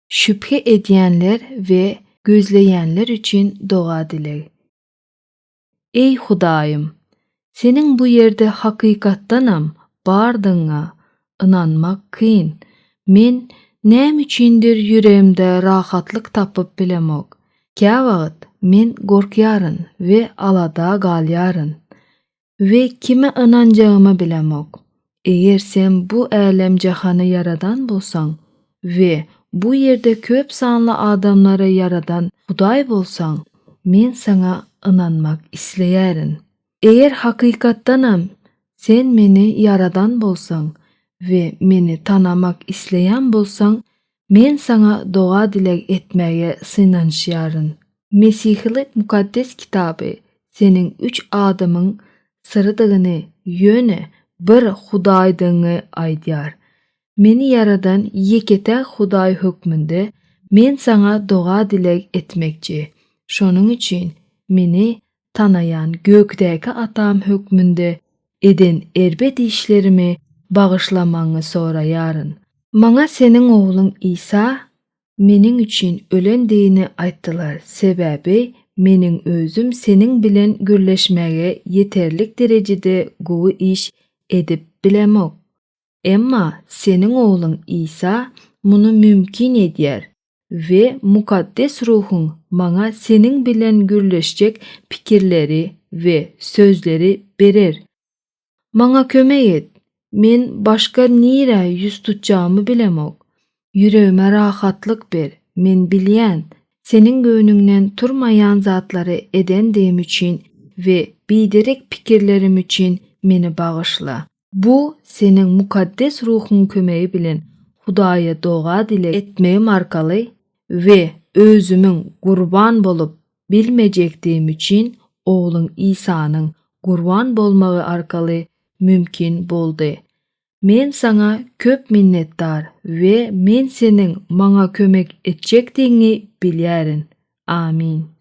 Şübhe edýänler we gözleýänler üçin doga dileg. Eý Hudaýym, Seniň bu ýerde hakykatdanam bardygyňa ynanmak kyn. Men näme üçindir ýüregimde rahatlyk tapyp bilemok. Käwagt men gorkýaryn we alada galýaryn. We kime ynanjagymy bilemok. Eger sen bu älem-jahany ýaradan bolsaň we bu ýerde köp sanly adamlary ýaradan Hudaý bolsaň, men saňa ynanmak isleýärin. Eger hakykatdanam sen meni ýaradan bolsaň we meni tanamak isleýän bolsaň, Men saňa doga-dileg etmäge synanyşýaryn. Mesihilik Mukaddes Kitaby seniň üç adamyň syrydygyňy, ýöne bir Hudaýdygyňy aýdýar. Meni ýaradan ýeke-täk Hudaý hökmünde men saňa doga-dileg etmekçi. Şonuň üçin meni tanaýan gökdäki atam hökmünde eden erbet işlerimi bagyşlamagyňy soraýaryn. Maňa seniň ogluň Isa meniň üçin ölendigini aýtdylar, sebäbi meniň özüm seniň bilen gürleşmäge ýeterlik derejede gowy iş edip bilemok. Emma Seniň Ogluň Isa muny mümkin edýär we Mukaddes Ruhuň maňa Seniň bilen gürleşjek pikirleri we sözleri berer. Maňa kömek et, men başga nirä ýüz tutjagymy bilemok. Ýüregime rahatlyk ber, men bilýän, Seniň göwnüňden turmaýan zatlary edendigim üçin we biderek pikirlerim üçin meni bagyşla. Bu Seniň Mukaddes Ruhuň kömegi bilen Hudaýa doga-dileg etmegim arkaly we özümiň gurban bolup bilmejekdigim üçin Ogluň Isanyň gurban bolmagy arkaly mümkin boldy. Men saňa köp minnetdar we men seniň maňa kömek etjekdigiňi bilýärin. Amin.